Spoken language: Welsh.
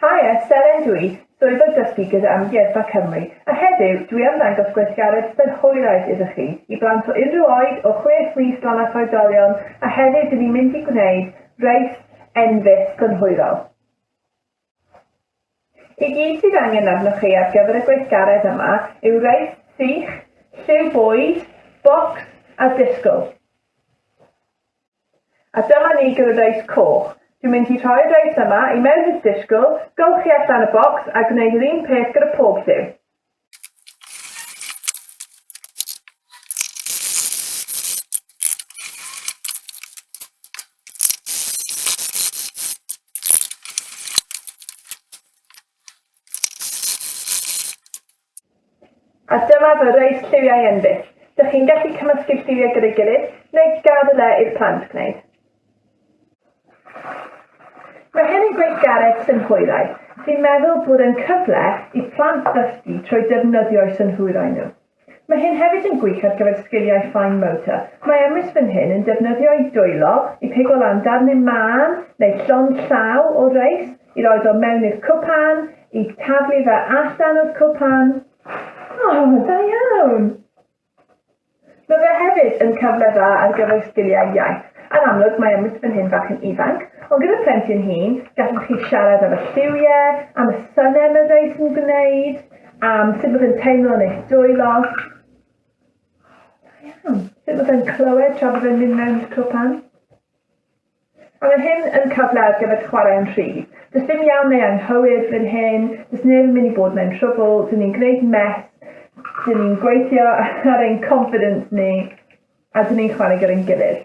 Haia, Seren dw i, swyddog dysgu gyda Amgueddfa Cymru, a heddiw dw i am ddangos gweithgaredd synhwyraidd iddo chi, i blant o unrhyw oed, o chwech mis lan at oedolion, a heddiw dyn ni'n mynd i gwneud reis enfys synhwyrol. I gyd sydd angen arnoch chi ar gyfer y gweithgaredd yma yw reis sych, lliw bwyd, bocs a disgwyl. A dyma ni gyda Dice Coch. Dwi'n mynd i rhoi'r reis yma i mewn i'r disgl, golchi allan y bocs a gwneud yr un peth gyda pob lliw. A dyma fy rei lliwiau enbyd. Dych chi'n gallu cymysgu'r lliwiau gyda'i gilydd, neu gad y le i'r plant gwneud. Mae hyn yn gweithgaredd synhwyraidd, sy'n meddwl bod yn cyfle i plant ddysgu trwy defnyddio'u synhwyrau nhw. Mae hyn hefyd yn gwych ar gyfer sgiliau fine motor. Mae Emrys fan hyn yn defnyddio'i dwylo i pigo lan darnau mân neu llond llaw o reis, I roed o mewn i'r cwpan, i taflu fe allan o'r cwpan. O, oh, da iawn! Mae fe hefyd yn cyfle dda ar gyfer sgiliau iaith. Yn amlwg, mae Emmett fan hyn fach yn ifanc, ond gyda plentyn hŷn, gallwch chi siarad am y lliwiau, am y synau mae rhai sy'n gwneud, am sut bod yn teimlo yn eich dwylo. Da iawn. Sut bod yn clywed tra bod yn mynd mewn cwpan. A mae hyn yn cyfle ar gyfer chwarae'n rhydd. Does dim iawn neu anghywir bryn hyn, does neb yn mynd i bod mewn trwbl, dyn ni'n gwneud mess, dyn ni'n gweithio ar ein confidence ni, a dyn ni'n chwarae gyda'n gilydd.